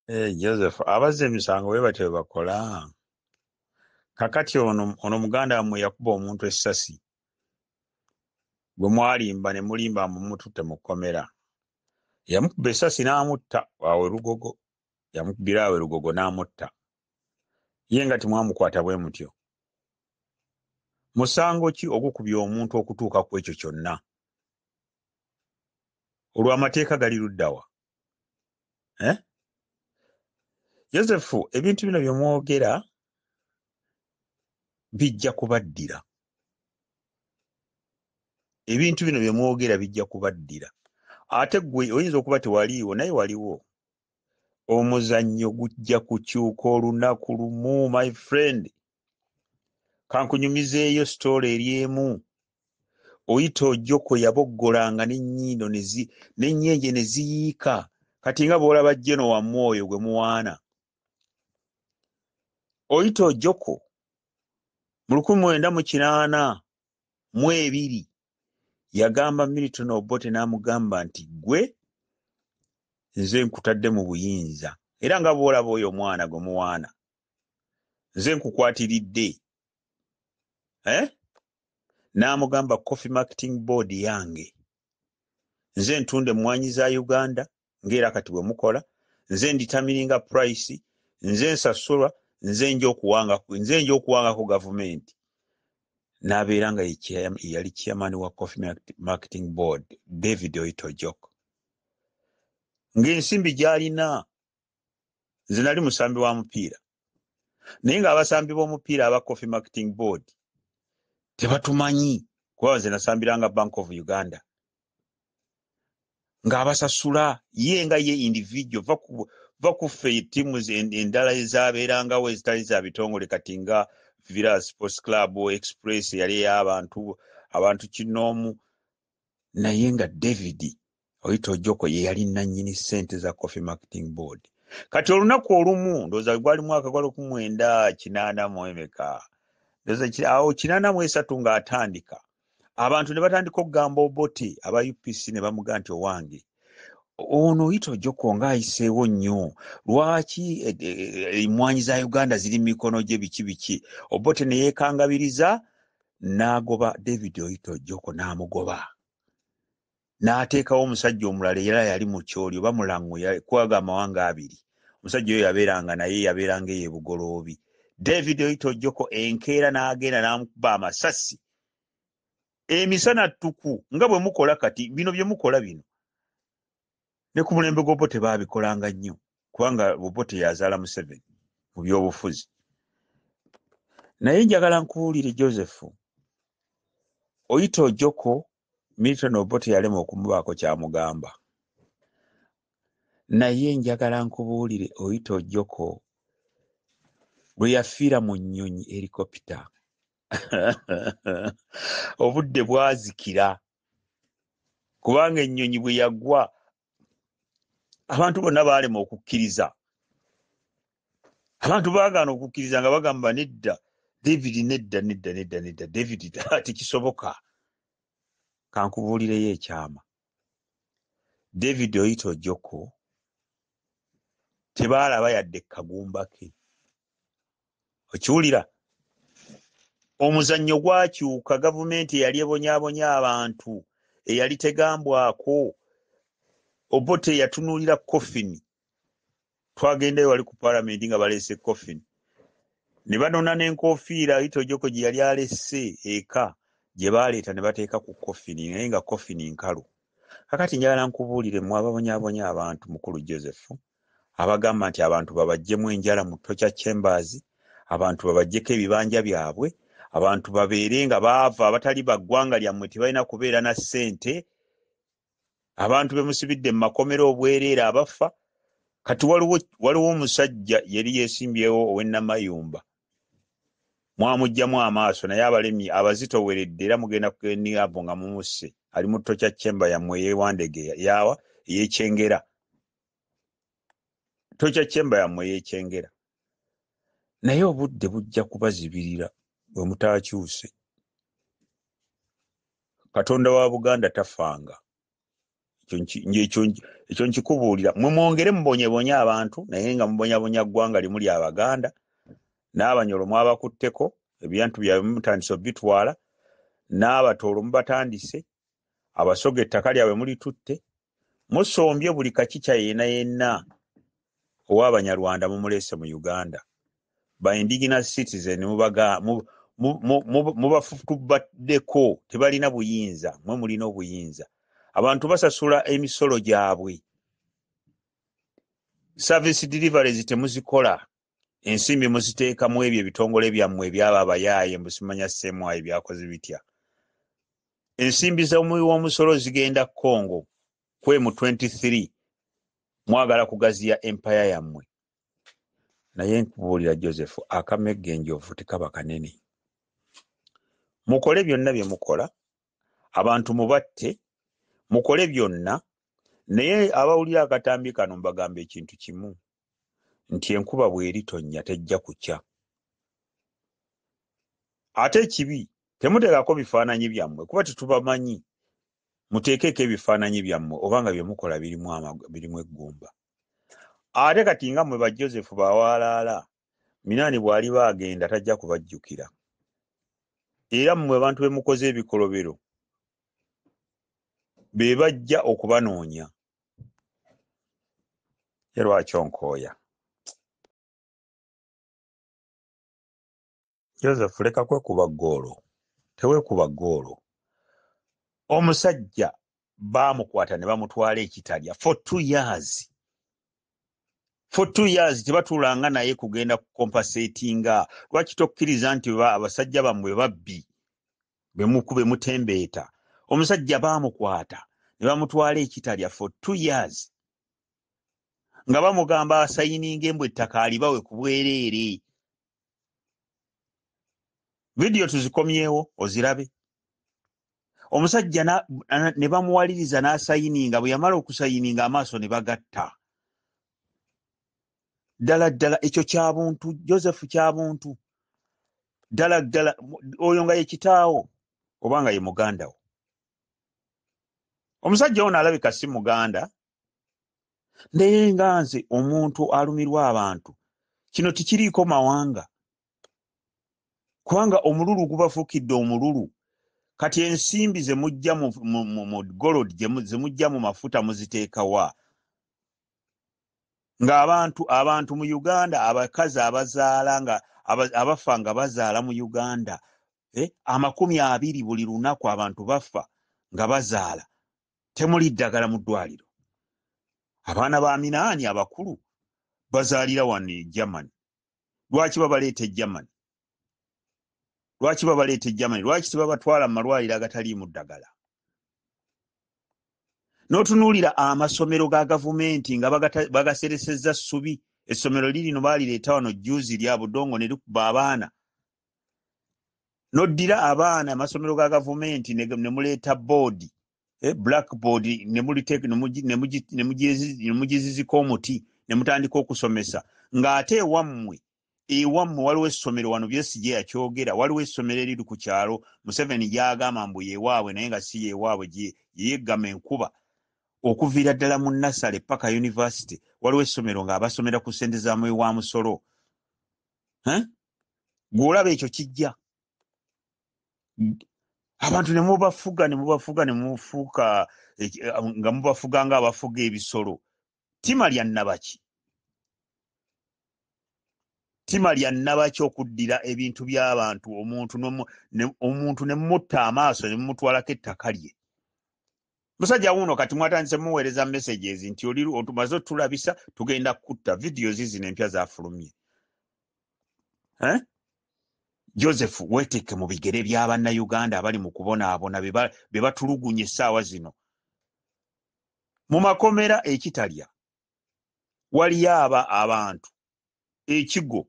Eh, Joseph abazza emisango bwe batyo bwe bakola kakati ono ono muganda wammwe yakuba omuntu essasi gwe mwalimba ne mulimba mbu mututte mu kkomera yamukuba essasi n'amutta awe lugogo yamukubira awe lugogo n'amutta ye nga temwamukwata bwe mutyo musango ki ogukubya omuntu okutuuka ku ekyo kyonna olw'amateeka gali luddawa eh? yosefu ebintu bino byemwogera bijja kubaddira ebintu bino byemwogera bijja kubaddira ate gwe oyinza okuba tewaliiwo naye waliwo omuzannyo gujja kukyuka olunaku lumu my friend kankunyumizeeyo sitoola eri emu oyita ojoko yaboggolanga n'ennyindo n'ennyenje ne ziyiika kati nga bw'olaba jeno wammwe oyo gwe muwaana oyita ojoko mu lukumi mwenda mu kinaana mu ebiri yagamba milton obote n'amugamba nti gwe nze nkutadde mu buyinza era nga bw'olaba oyo omwana gwe muwaana nze nkukwatiridde eh? n'amugamba coffee marketing board yange nze ntunda emmwanyi za uganda ngaera kati bwe mukola nze nditamiringa price nze nsasulwa nze nja okuwanga ku gavumenti n'abeera nga yali chairman wa coffee marketing board david oitojok ng'ensimbi gy'alina nze nali musambi wa mupiira naye nga abasambi b'omupiira aba coffee marketing board tebatumanyi kuba nze nasambiranga bank of uganda ng'abasasula ye nga ye individual va kuffe tiimu endala ezabeerangawo ezitali za bitongole kati nga vira sports club express yali ey'abantu abantu kinoomu naye nga david oyita ojoko ye yali nannyini sente za coffee marketing board kati olunaku olumu ndoza gwali mwaka gwali kumwenda kinaana mu emeka ndoza awo kinaana mu esatu nga atandika abantu ne batandika okugamba oboti aba upc ne bamuga nti owange ono oyita ojoko nga ayiseewo nnyo lwaki emwanyi e, e, e, za uganda ziri mu mikono gye biki biki obote ne yeekangabiriza n'agoba david oyita ojoko n'amugoba n'ateekawo omusajja omulala era yali mu kyoli oba mulango kwaga amawanga abiri omusajja oyo yabeeranga naye yabeeranga eyo ebugoloobi david oitojoko enkeera n'agenda n'amukuba amasasi emisana ttuku nga bwe mukola kati bino bye mukola bino ne ku mulembe gw'obote baabikolanga nnyo kubanga obote yazaala museveni mu by'obufuzi naye njagala nkuwulire joseph oyita ojoko Milton Obote yalema okumubaako kyamugamba naye njagala nkubuulire oyita ojoko lwe yafiira mu nnyonyi helikopita obudde bwazikira kubanga ennyonyi bwe yagwa abantu bonna baalema okukkiriza abantu baagaana okukkiriza nga bagamba nedda david nedda nedda nedda nedda david tekisoboka kankubuulireyo ekyama david oyita ojoko tebaalaba yadde kagumba ke okiwulira omuzannyo gwakyuka gavumenti eyali ebonyabonya abantu eyali tegambwako obote eyatunuulira coffin twagendayo wali ku palamenti nga baleese coffin ne banona n'enkofiira itojoko gye yali alese eka gye baleeta ne bateeka ku coffin naye nga coffin nkalu kakati njagala nkubuulire mwe ababonyabonya abantu mukulu joseph abagamba nti abantu babaggyemu enjala mu Torture Chambers, abantu babaggyeko ebibanja byabwe, abantu babeere nga baava abatali ba ggwanga lyammwe tebalina kubeera na ssente, abantu be musibidde mu makomera obwereere abafa. Kati waliwo waliwo omusajja yali yeesimbyewo ow'ennamayumba mwamuggyamu amaaso naye abalemye abazitoweredde era mugenda kugeniavu nga mumusse ali mu Torture Chamber yammwe eyewandegeya yawa eyekyengera. tokya kyemba yammwe yekyengera naye obudde bujja kubazibirira bwe mutaakyuse katonda wa buganda tafanga ekyo nkikubuulira mwe mwongere mubonyebonye abantu naye nga mubonyabonya ggwanga limu lya baganda n'abanyolo mwabakutteko ebyantu byabwe mutandise obitwala n'abatoolo mubatandise abasoga ettaka lyabwe mulitutte musombye buli kakica yena yenna owabanyarwanda mumulese mu uganda by indigenous citizen mubafutubaddeko tebalina buyinza mwe mulina obuyinza abantu basasula emisolo gyabwe service deliveries temuzikola ensimbi muziteeka mu ebyo ebitongole byammwe ebyaba abayaaye mbusimanya semwayi byakoze bitya ensimbi zomuwi w'omusolo zigenda congo kwe mu 23 mwagala kugaziya empaya yammwe naye nkubuulira joseph akamegga enjovu tekaba kanene mukole byonna bye mukola abantu mubatte mukole byonna naye abawulira akatambi kano mbagamba ekintu kimu nti enkuba bw'eritonnya tejja kukya. Ate ekibi temuteekako bifaananyi byammwe kuba tetubamanyi. Muteekeeko ebifaananyi byammwe oba nga bye mukola birimu eggumba. Ate kati nga mmwe ba Joseph ba waalaala, Minaani bw'aliba agenda tajja kubajjukira. Era mmwe abantu be mukoze ebikolobero be bajja okubanoonya. ye lwaki onkooya joseph leka kwekuba ggoolo teweekuba ggoolo omusajja baamukwata ne bamutwala ekitalya for two years for two years tebatuulanga naye kugenda kukompasetinga lwaki tokkiriza nti abasajja bammwe babbi bemukube mutembeeta omusajja baamukwata ne bamutwala ekitalya for two years nga bamugamba asayininga embwa ettaka alibawe ku bwereere vidiyo tuzikomyewo ozirabe omusajja ne bamuwaliriza n'asayininga bwe yamala okusayininga amaaso ne bagatta ddala ddala ekyo kyabuntu joseph kyabuntu ddala ddala oyo nga yekitaawo oba nga ye muganda wo omusajja ono alabika si muganda naye nga nze omuntu alumirwa abantu kino tikiriiko mawanga kubanga omululu gubafuukidde omululu kati ensimbi zemujja mu golod zemujja mu mafuta muziteekawa ng'abantu abantu mu uganda abakazi abazaala nga abafa nga bazaala mu uganda eh, amakumi abiri buli lunaku abantu bafa nga bazaala temuli ddagala mu ddwaliro abaana ba minaani abakulu bazaalira wano e germany lwaki babaleeta e germany lwaki babaleeta egermany lwaki tebabatwala mu malwaliro agataliimu ddagala n'otunuulira amasomero ga gavumenti nga bagaseresezza ssubi essomero lirino baalireeta wano juzi lya budongo ne likuba abaana noddira abaana amasomero ga gavumenti ne muleeta boodi eh, black board nemugizizika omuti ne mutandika okusomesa ng'ate ewammwe ewammwe waliwo essomero wano byesigye yakyogera waliwo essomero eriri ku kyalo museveni gyagamba mbu yewaabwe naye nga si yewaabwe yeyeggama enkuba okuviira ddala mu nasale paka univesity waliwo essomero nga abasomera ku sente za mwe wa musolo gweolaba ekyo kijja abantu nemubafuga nemubafuga nemufuuka nga mubafuga nga abafuga ebisolo ttima lya nnabaki ttima lya nnabaki okuddira ebintu by'abantu omuntu omuntu ne mutta amaaso ne mumutwalako ettaka lye musajja wuuno kati mwatandise muweereza messages nti oli otumaze otulabisa tugenda kutta vidiyo zizino empya zafulumye eh? joseph weteeke mu bigere bya bannayuganda abali mu kubonaabona be batulugunya essaawa zino mu makomera ekitalya waliyo aba abantu ekigo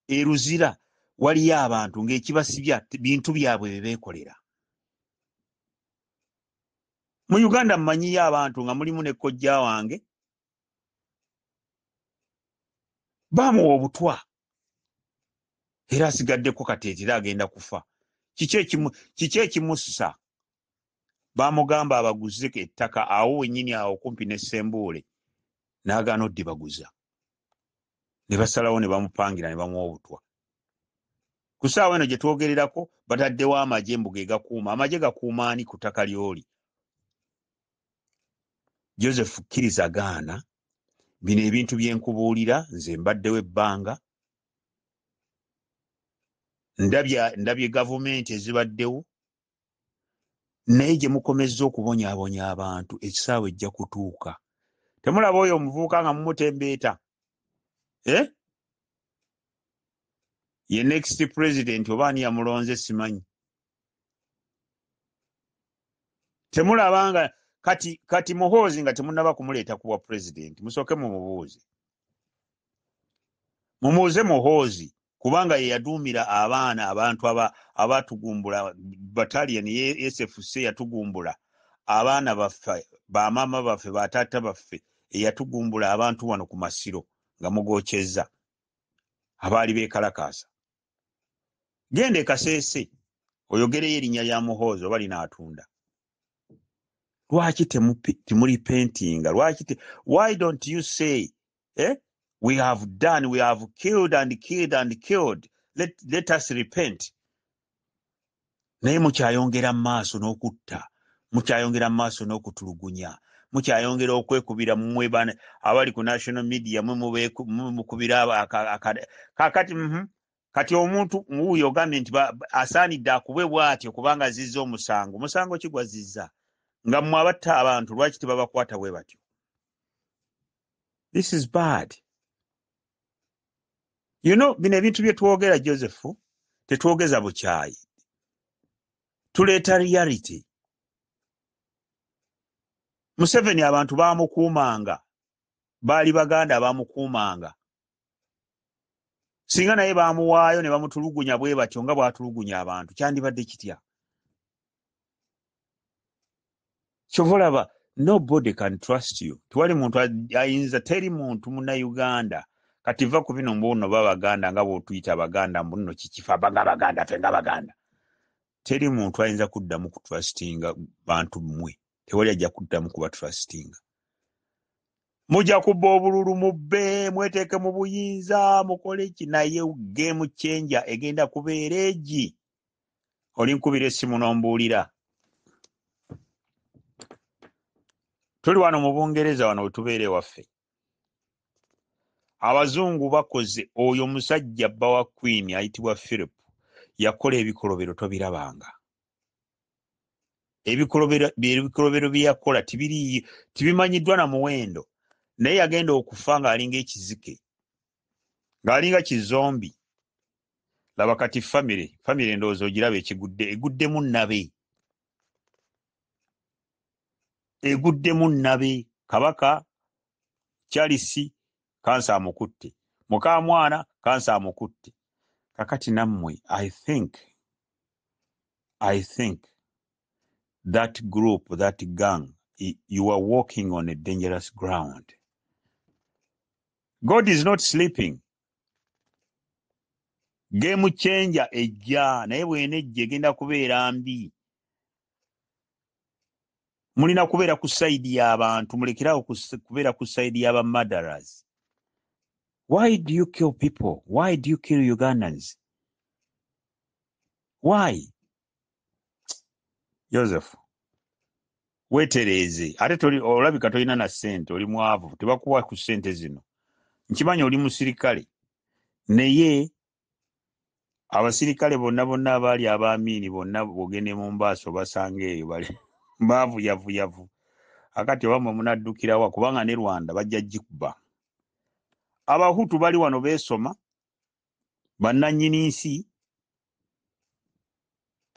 eruzira waliyo abantu ng'ekibasibya bintu byabwe bye beekolera mu uganda mmanyiyo abantu nga mulimu ne kojja wange baamuwa obutwa era asigaddeko kateetera agenda kufa kiki ekimussa bamugamba abaguze ettaka awo wenyini awo okumpi ne sembuule nagaana odibaguza ne basalawo ne bamupangira ne bamuwa obutwa ku saawa eno gye twogererako bataddewo amagye mbuga egakuuma amagye gakuuma ani ku ttaka lyoli joseph kkiriza gaana bino ebintu bye nkubuulira nze mbaddewo ebbanga ndabye gavumenti ezibaddewo naye gye mukomezza okubonyaabonya abantu ekisaawe ejja kutuuka temulaba oyo omuvubuka nga mumutembeeta eh? ye next president oba ani yamulonze simanyi temulaba nga kati kati muhoozi nga temunaba kumuleeta kubwa president musooke mumubuuze mumuuze muhoozi kubanga ye yaduumira abaana abantu abatugumbula batalian yesfc yatugumbula abaana baffe bamaama baffe bataata baffe eyatugumbula abantu wano ku masiro nga mugokyezza abaali bekalakaasa genda ekaseese oyogereyo erinnya lya muhoozi oba linaatunda lwaki temuli pentinga lwaki why don't you say eh? we have done we have killed and killed and killed let, let us repent naye mukyayongera mu maaso n'okutta mukyayongera mu maaso n'okutulugunya mukyayongera okwekubira mumwe bana abali ku national media mwe mukubira kakati mhm. kati omuntu wuuyo ogambye nti asaanidde akubwe bwatyo kubanga azizza omusango omusango kigwazizza nga mmwe abatta abantu lwaki tebabakwata bwe batyo this is bad you know bino ebintu bye twogera joseph tetwogeza bukyayi tuleeta reality museveni abantu bamukuumanga baali baganda bamukuumanga singa naye bamuwaayo ne bamutulugunya bwe batyo nga bwatulugunya abantu kyandibadde kitya kyova olaba nobody can trust you tewali muntu ayinza teri muntu munauganda kati va ku bino mbuno babaganda nga bwotuyita abaganda mbuno kikifa baga baganda fe nga baganda teri muntu ayinza kuddamu kutrustinga bantu mmwe tewali ajja kuddamu kuba trustinga mujja kubba obululu mubbe mweteeke mu buyinza mukole ki naye game changer egenda kubeera egi olinkubira essimu nombuulira tuli wano mu bungereza wano wetubeera ewaffe abazungu bakoze oyo omusajja bba wa queen ayitibwa philip yakola ebikolobero tobirabanga ebikolobero byeyakola tibiriiyo tibimanyiddwa na muwendo naye yagenda okufa ng'alinga ekizike ng'alinga kizombi laba kati famire famire endowooza ogiraba ekigudde eguddemu nabe eguddemu nabe kabaka charles kansa amukutte mukamwana kansa amukutte kakati nammwe i think i think that group that gang you are walking on a dangerous ground god is not sleeping game changer ejja naye bwena ejja egenda kubeera mbi mulina kubeera ku saidi y'abantu mulekerawo kubeera ku saidi y'aba madaras why do you kill people why do you kill ugandans why joseph wetereeze ate toli olabika tolina na ssente oli mwavu tebakuwa ku ssente zino nkimanyi oli musirikale naye abasirikale bonna bonna abaali abaamiini bonna bogende mu mbaaso basanga eyo bali baavuyavuyavu akati oba mwe munaddukirawa kubanga ne rwanda bajja gikubba abahutu bali wano beesoma bannanyini nsi